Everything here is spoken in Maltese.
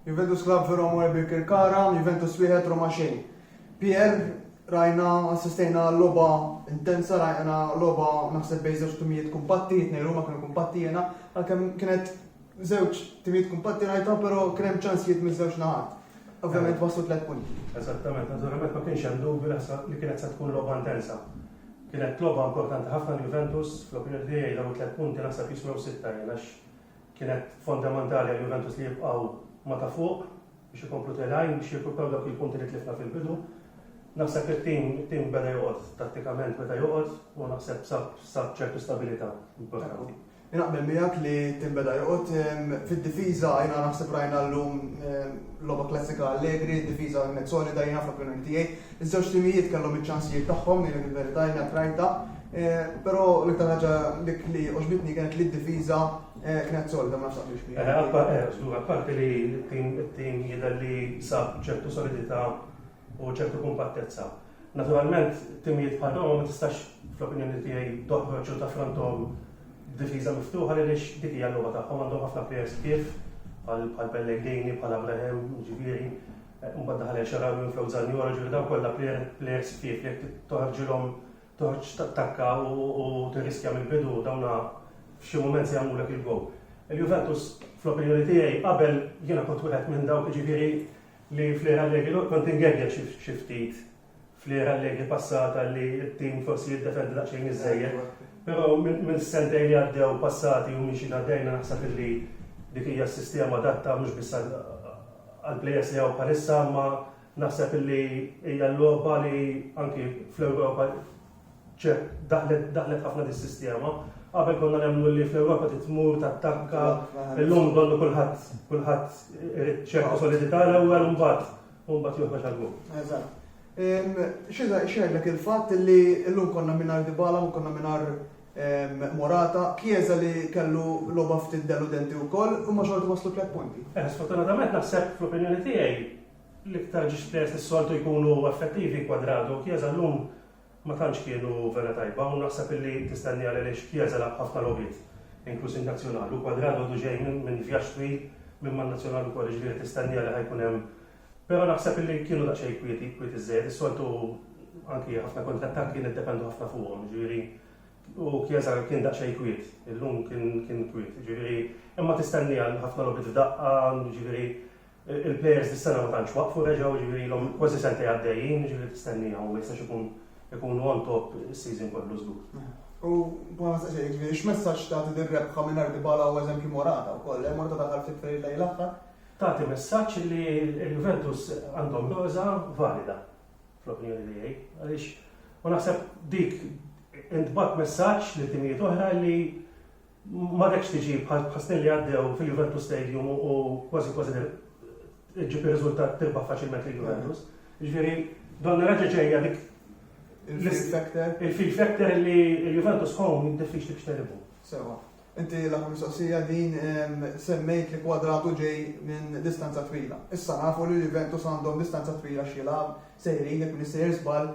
Juventus Club Verona More Birkirkara, Juventus wieħed Roma xejn. Pierre rajna assistejna logħba intensa, rajna logħba naħseb bejn żewġ timijiet kumpatti, jitnej Roma kienu kumpatti jena, għalkemm kienet żewġ timijiet kumpatti rajta, però kien hemm ċansijiet minn żewġ naħat. Ovvjament waslu tliet punti. Eżattament, naturalment ma kienx hemm dubju li kienet se tkun logħba intensa. Kienet logħba importanti ħafna l-Juventus, fl-opinjoni tiegħi dawn tliet punti naħseb jiswew sitta jien għax Kienet fondamentali għal Juventus li jibqgħu ma' ta' fuq biex ikomplu telgħin biex jirkupraw dawk il-punti li tlifna fil-bidu. Naħseb li t-tim t-tim beda joqgħod, tattikament beda joqgħod u naħseb sab sab ċertu stabilità. Ekku. Jien naqbel miegħek li t-tim beda joqgħod. Fid-difiża jiena naħseb rajna llum logħba klassika Allegri, difiża hemmhekk solida jiena fl-opinjoni tiegħi. Iż-żewġ timijiet kellhom iċ-ċansijiet tagħhom, ngħidlek il-verità, jiena qed rajtha. Però l-iktar ħaġa li għoġbitni kienet li d-difiża kienet solda ma xtaqtux li. Apparti li t-tim jidher li sab ċertu solidità u ċertu kumpattezza. Naturalment, timijiet bħal Roma ma tistax, fl-opinjoni tiegħi, toħroġ u taffronthom b'difiża miftuħa għaliex dik hija l-logħba tagħhom. Għandhom ħafna plejers ktief bħal Pellegrini, bħal Abraham, jiġifieri, imbagħad daħal El Shaarawy minflok Zaniolo, ġifieri dawn kollha plejers ktief li jekk toħorġilhom Toħroġ tattakka u tirriskja mill-bidu u dawna f'xi mument se jagħmlulek il-gowl. Il-Juventus, fl-opinjoni tiegħi, qabel jiena kont wieħed minn dawk jiġifieri li fl-era Allegri kont ingeggeġ xi ftit fl-era Allegri passata li t-tim forsi jiddefendi daqsxejn iżżejjed. Però minn sentejn li għaddew passati u minn xi għaddejna naħseb illi dik hija s-sistema adatta mhux biss għall-plejers li hawn bħalissa imma Naħseb illi hija l-logħba li anki fl-Ewropa ċert daħlet daħlet ħafna dis-sistema. Qabel konna nemmnu li fl-Ewropa trid tmur tattakka illum donnu kulħadd kulħadd irid ċertu solidità l-ewwel mbagħad u mbagħad joħroġ għal Eżatt. X'għidlek il-fatt li llum konna mingħajr Dybala u konna mingħajr Morata, Chiesa li kellu logħba ftit deludenti wkoll, imma xorta waslu tliet punti. Eh, sfortunatament naħseb fl-opinjoni tiegħi L-iktar GPS li s-soltu jkunu effettivi inkwadratu, Chiesa llum ma tantx kienu vera tajba u naħseb illi tistenniha għaliex Chiesa lagħab ħafna logħbiet, inkluż in-Nazzjonal u Cuadrado għadu ġej minn vjaġġ twil minn man-Nazzjonal ukoll jiġifieri tistenniha li ħa jkun hemm però naħseb illi kienu daqsxejn kwieti, kwieti żżejjed, is-soltu anki ħafna kontrattakki niddependu ħafna fuqhom jiġifieri u Chiesa kien daqsxejn kwiet, illum kien kwiet jiġifieri imma tistenniha ħafna logħbiet f'daqqa jiġifieri Il-plejers dis-sena ma tantx waqfu reġgħu, jiġifieri ilhom kważi sentejn għaddejjin, jiġifieri tistennihom ma jistax ikun ikunu on top is-season kollu żgur. U bħala mistoqsija, jiġifieri x'messaġġ tagħti din rebħa mingħajr Dybala u eżempju Morata wkoll, eh, Morata daħal fil-frejn lejn l-aħħar? Tagħti messaġġ li l-Juventus għandhom roża valida fl-opinjoni tiegħi. Għaliex u naħseb dik intbagħat messaġġ li timijiet oħra li M'għadekx tiġi bħal snin li għaddew fil-Juventus Stadium u kważi kważi ġib ir-riżultat tirbaħ faċilment il-Juventus. Ġifieri, donna raġa ġejja dik il-fil factor li l-Juventus home diffiċli biex neribu. Sewa. Inti l-aħħar mistoqsija din semmejt li kwadratu ġej minn distanza twila. Issa nafu li l-Juventus għandhom distanza twila x'jilgħab sejrin jekk minn sejr żball